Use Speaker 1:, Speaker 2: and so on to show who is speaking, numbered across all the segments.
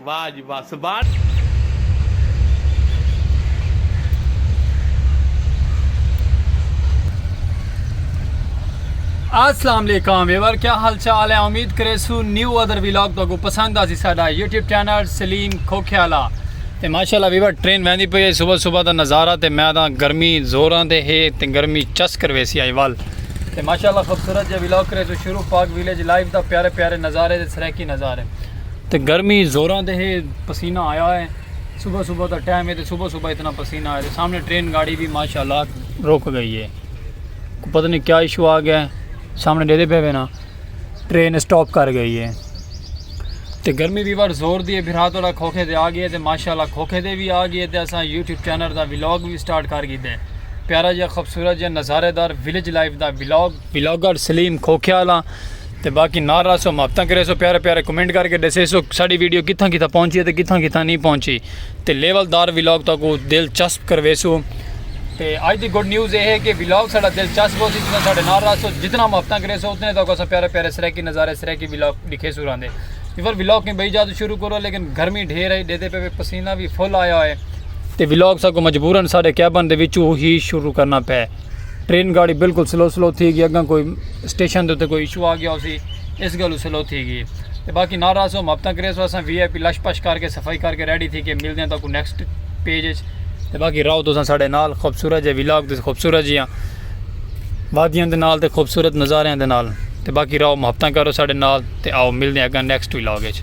Speaker 1: واج وس بان۔ السلام علیکم ویور کیا حال چال ہے امید کریسو نیو ادر ویلاگ تو کو پسند آسی ساڈا یوٹیوب چینل سلیم کھوکھیالا تے ماشاءاللہ ویور ٹرین ویندی پئی ہے صبح صبح دا نظارہ تے میں دا گرمی زوراں تے ہے تے گرمی چس کر ویسی آئی وال تے ماشاءاللہ خوبصورت جے ویلاگ کریسو شروع پاک ویلیج لائف دا پیارے پیارے نظارے تے سریکی نظارے تے گرمی زوراں تے ہے پسینہ آیا ہے صبح صبح دا ٹائم ہے تے صبح صبح اتنا پسینہ آیا ہے سامنے ٹرین گاڑی بھی ماشاءاللہ رک گئی ہے پتہ نہیں کیا ایشو آ گیا ہے سامنے دے دے پہ نا ٹرین سٹاپ کر گئی ہے تے گرمی بھی بار زور دی ہے پھر ہاتھ والا کھوکھے دے آ گئے تے ماشاءاللہ کھوکھے دے بھی آ گئے تے اساں یوٹیوب چینل دا ولاگ بھی سٹارٹ کر گئے پیارا جا خوبصورت جا نظارے دار ولیج لائف دا ولاگ بلاگر سلیم کھوکھیا آلاں تے باقی نال رہسو محبتاں کریسو پیارے پیارے کمنٹ کر کے ڈسیسو ساڈی ویڈیو کتھاں کتھاں پہنچی ہے تے کتھاں کتھاں نہیں پہنچی تے لیول دار ولاگ تاکو دلچسپ کرویسو تے اج دی گڈ نیوز اے ہے کہ ولاگ ساڈا دلچسپ ہو سی جتنا ساڈے نال رہسو جتنا محبتاں کریسو اتنے تاکو اسا پیارے پیارے سرائیکی نظارے سرائیکی ولاگ دکھیسو راندے ایور ولاگ کہیں بئی جادو شروع کرو لیکن گرمی ڈھیر ہے ڈیدے پہ پسینہ بھی فل آیا ہے تے ولاگ ساکو مجبورن ساڈے کیبن دے وچوں ہی شروع کرنا پے ٹرین گاڑی بالکل سلو سلو تھی گئی اگاں کوئی اسٹیشن دے کوئی ایشو آ گیا اسی اس گلو سلو تھی گئی تے باقی ناراض ہو محبتاں کرے سو اساں وی آئی پی لش پش کر کے صفائی کر کے ریڈی تھی کے ملدے ہیں تاکو نیکسٹ پیج اچ تے باقی راو تو سن ساڑے نال خوبصورت جے ویلاگ تے خوبصورت جیاں وادیاں دے نال تے خوبصورت نظاریاں دے نال تے باقی راو محبتاں کرو ساڑے نال تے آؤ ملدے ہیں اگاں نیکسٹ ویلاگ اچ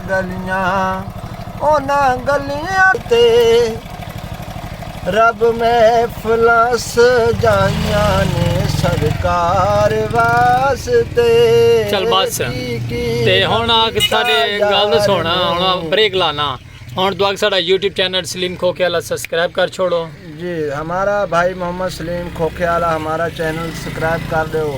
Speaker 2: گلیاں انہاں گلیاں تے رب محفلاں سجائیاں نے سرکار واسطے چل
Speaker 1: بس تے ہن آگ ساڈے گل دا سونا ہن بریک لانا ہن تو آگ ساڈا یوٹیوب چینل سلیم کھوکے والا سبسکرائب کر چھوڑو جی ہمارا
Speaker 2: بھائی محمد سلیم کھوکے والا ہمارا چینل سبسکرائب کر دیو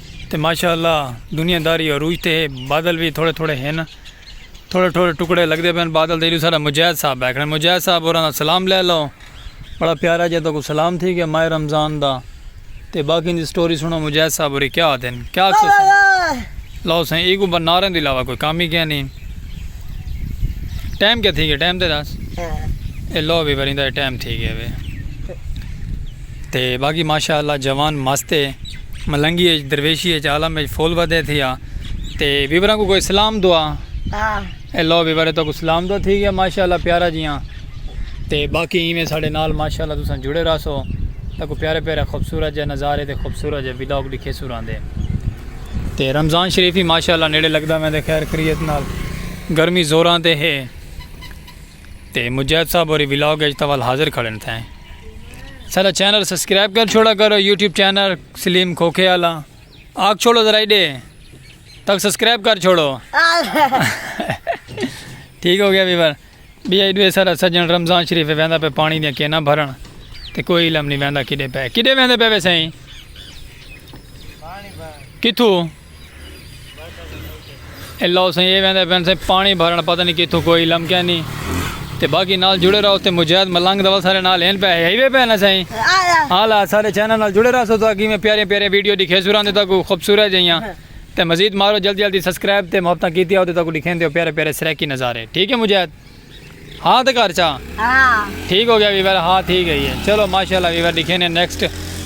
Speaker 1: تے ماشاء اللہ دنیا داری عروج تے ہے بادل وی تھوڑے تھوڑے ہن تھوڑے تھوڑے ٹکڑے لگدے پن بادل تے ایڈو سارا مجاہد صاحب بیٹھے ہیں مجاہد صاحب اوراں دا سلام لے لو بڑا پیارا جے تو کو سلام تھی گیا ماہ رمضان دا تے باقی دی سٹوری سنو مجاہد صاحب اوری کیا آتے ہیں کیا آتے ہیں لو سن ایک اوپر نارے دی لاوا کوئی کامی کیا نہیں ٹائم کیا تھی گیا ٹائم تے داس اے لو بھی برین دا ٹائم تھی گیا بے تے باقی ماشاء اللہ جوان مست ہے ملنگی اچ درویشی اچ عالم اچ فل ودے تھیا تے بیبرا کو کوئی سلام دعا
Speaker 3: اے لو بیبرے
Speaker 1: تو کو سلام دعا تھی گیا ماشاء اللہ پیارا جیاں تے باقی ایویں ساڈے نال ماشاء اللہ تساں جڑے رہسو تے کو پیارے پیارے خوبصورت جے نظارے تے خوبصورت جے ولاگ ڈکھے سو راندے تے رمضان شریف ہی ماشاء اللہ نیڑے لگدا میں دے خیر کریت نال گرمی زوراں تے ہے تے مجاہد صاحب ہوری ولاگ اچ تاں ول حاضر کھڑن تھیں ساڈا چینل سبسکرائب کر چھوڑا کرو یوٹیوب چینل سلیم کھوکھے والا آکھ چھوڑو ذرا ایڈے تک سبسکرائب کر چھوڑو ٹھیک ہو گیا ویور بھی ایڈو ہے سارا سجن رمضان شریف ویندا پہ پانی دیا کینا بھرن تے کوئی علم نہیں ویندا کڈے پہ کڈے ویندے پہ ویسے کتھو اللہ حسین یہ ویندے پین سے پانی بھرن پتہ نہیں کیتھوں کوئی علم کیا نہیں تے باقی نال جڑے رہو تے مجاہد ملنگ دا سارے نال ہین پہ ہے وے پہ نہ سائیں ہالا سارے چینل نال جڑے رہو تو اگے میں پیارے پیارے ویڈیو دکھے سوراں دے تک خوبصورت جیاں تے مزید مارو جلدی جلدی سبسکرائب تے محبتاں کیتی او تے تک دکھیں دیو پیارے پیارے سرکی نظارے ٹھیک ہے مجاہد ہاں تے کر چا ہاں۔ ٹھیک ہو گیا ویور ہاں ٹھیک ہے یہ چلو ماشاءاللہ ویور دکھیں نے نیکسٹ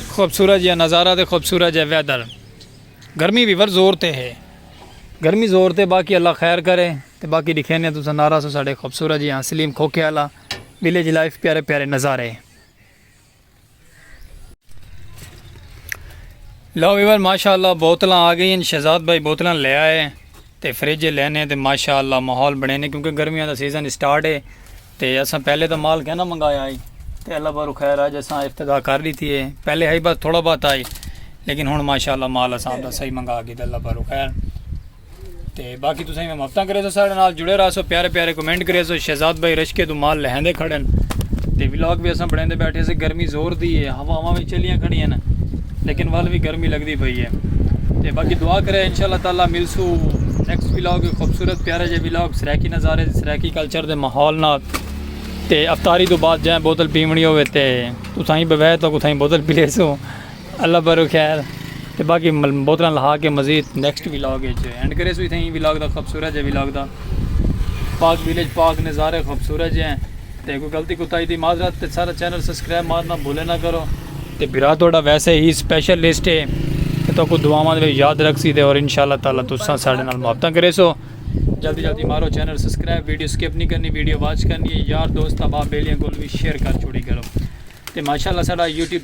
Speaker 1: خوبصورت جیاں نظارہ تے خوبصورت جیاں ویدر گرمی وی ور زور تے ہے۔ گرمی زور تے باقی اللہ خیر کرے تے باقی ڈکھینے تساں نارا سو ساڈے خوبصورت جی ہاں سلیم کھوکھے آلا ویلیج لائف پیارے پیارے نظارے۔ لو ویور ماشاءاللہ بوتلاں آ گئین شہزاد بھائی بوتلاں لے آئے۔ تے فریجے لینے تے ماشاء اللہ ماحول بنینے کیونکہ گرمیاں دا سیزن اسٹارٹ ہے تے اساں پہلے تاں مال کہنا منگایا ہائی تے اللہ بارو خیر آج اساں افتتاح کر ڈیتی ہے پہلے ہائی بس تھوڑا بہت آئی لیکن ہن ماشاء اللہ مال اساں دا صحیح منگا گی تے اللہ بارو خیر تے باقی تساں میں مفتاں کرے سو سارے نال جڑے رہا سو پیارے پیارے کمنٹ کرے سو شہزاد بھائی رشکے تو مال لہندے کھڑن تے ولاگ بھی اساں بڑھیں دے بیٹھے سے گرمی زور دی ہے ہوا ہوا میں چلیاں کھڑیاں نا لیکن ول وی گرمی لگدی پئی ہے تے باقی دعا کرے انشاء اللہ تعالی ملسو نیکسٹ ولاگ خوبصورت پیارے جے ولاگ سرائیکی نظارے سرائیکی کلچر دے ماحول نال تے افطاری تو بعد جائیں بوتل پیونی ہوے تے اتھائی بوے تو اتھائی بوتل پی لیسو اللہ برو خیر تے باقی بوتلاں لہا کے مزید نیکسٹ ولاگ اچ اینڈ کرے سو اتھائی ولاگ دا خوبصورت جے ولاگ دا پاک ویلیج پاک نظارے خوبصورت جے ہیں تے کوئی غلطی کوتاہی دی معذرت تے سارا چینل سسکرائب مارنا بھولے نہ کرو۔ تے بھرا تہاڈا ویسے ہی سپیشل لسٹ ہے تے تہاکوں دعاواں دے وچ یاد رکھسی تے اور انشاءاللہ تعالی تساں ساڈے نال محبتاں کریسو جلدی جلدی مارو چینل سسکرائب ویڈیو سکپ نی کرنی ویڈیو واچ کرنی ہے یار دوست احباب بیلیاں کول وی شیئر کر چھوڑی کرو تے ماشاءاللہ ساڈا یوٹیوب